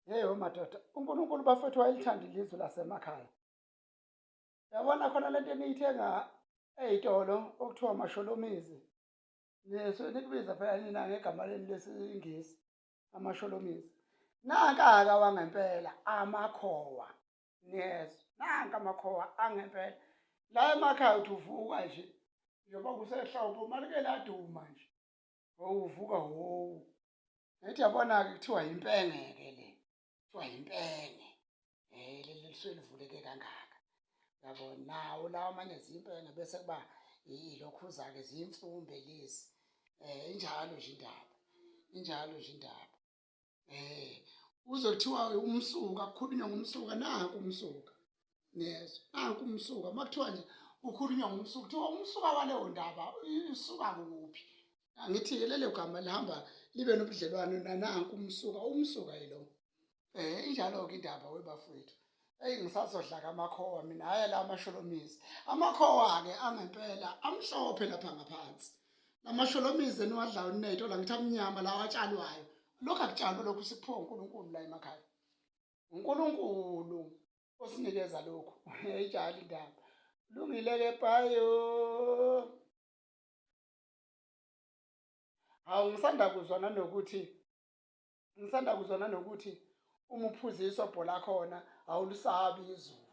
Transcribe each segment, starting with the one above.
Yeyo madoda, uNkulunkulu bafethu wayelithanda ilizwe lasemakhaya. Yabona khona lento eniyithenga eyitolo okuthiwa amasholomizi. Neso nikubiza phela nina ngegama leni lesiNgisi amasholomizi. Nankaka wangempela amakhowa. Yes, nanka amakhowa angempela. La emakhaya uthi uvuka nje njengoba kusehlobo malike laduma nje. Uvuka wo. ngithi yabona-ke kuthiwa yimpenge-ke le kuthiwa yimpenge um eh, leli lisuke livuleke kangaka yabo nawo lawa amanye ziyimpenge bese kuba ilokhuza-ke ziyimfumbe lezi um injalo nje indaba injalo nje indaba um uzothiwa umsuka kukhulunywa ngomsuka naku umsuka niyezwa nanku umsuka uma kuthiwa nje kukhulunywa ngomsuka kuthiwa umsuka waleyo ndaba usuka kuphi angithi-ke lelo gama lihamba libe nobudlelwane nananku umsuka umsuka yilo um eh, injalo-ke indaba webafowethu eyi ngisazodlaka amakhowa mina hhayi la amasholomizi amakhowa-ke angempela amhlophe lapha ngaphansi lamasholomizi eniwadlayo nineyto la ngithi amnyama lawo atshalwayo lokhu akutshalwe lokhu sikuphiwa unkulunkulu la emakhaya unkulunkulu osinikeza lokhu ijali indaba lungile ke payo hawu ngisanda kuzwa nanokuthi ngisanda kuzwa nanokuthi uma uphuza isobho lakhona awulusabi izulu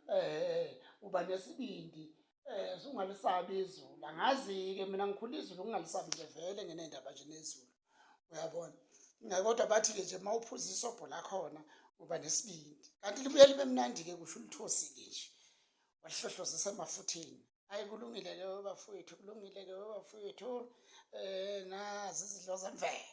um uba nesibindi Eh sungalisabi izulu. Angazi ke mina ngikhula izulu ngingalisabi nje vele ngenendaba nje nezulu. Uyabona? Ngakodwa bathi ke nje mawuphuza isobho lakhona uba nesibindi. Kanti libuye libe mnandi ke kusho ulithosi ke nje. Walihlohlozisa emafutheni. Hayi kulungile ke bafowethu, kulungile ke bafowethu. Eh nazi izidlo zemvelo.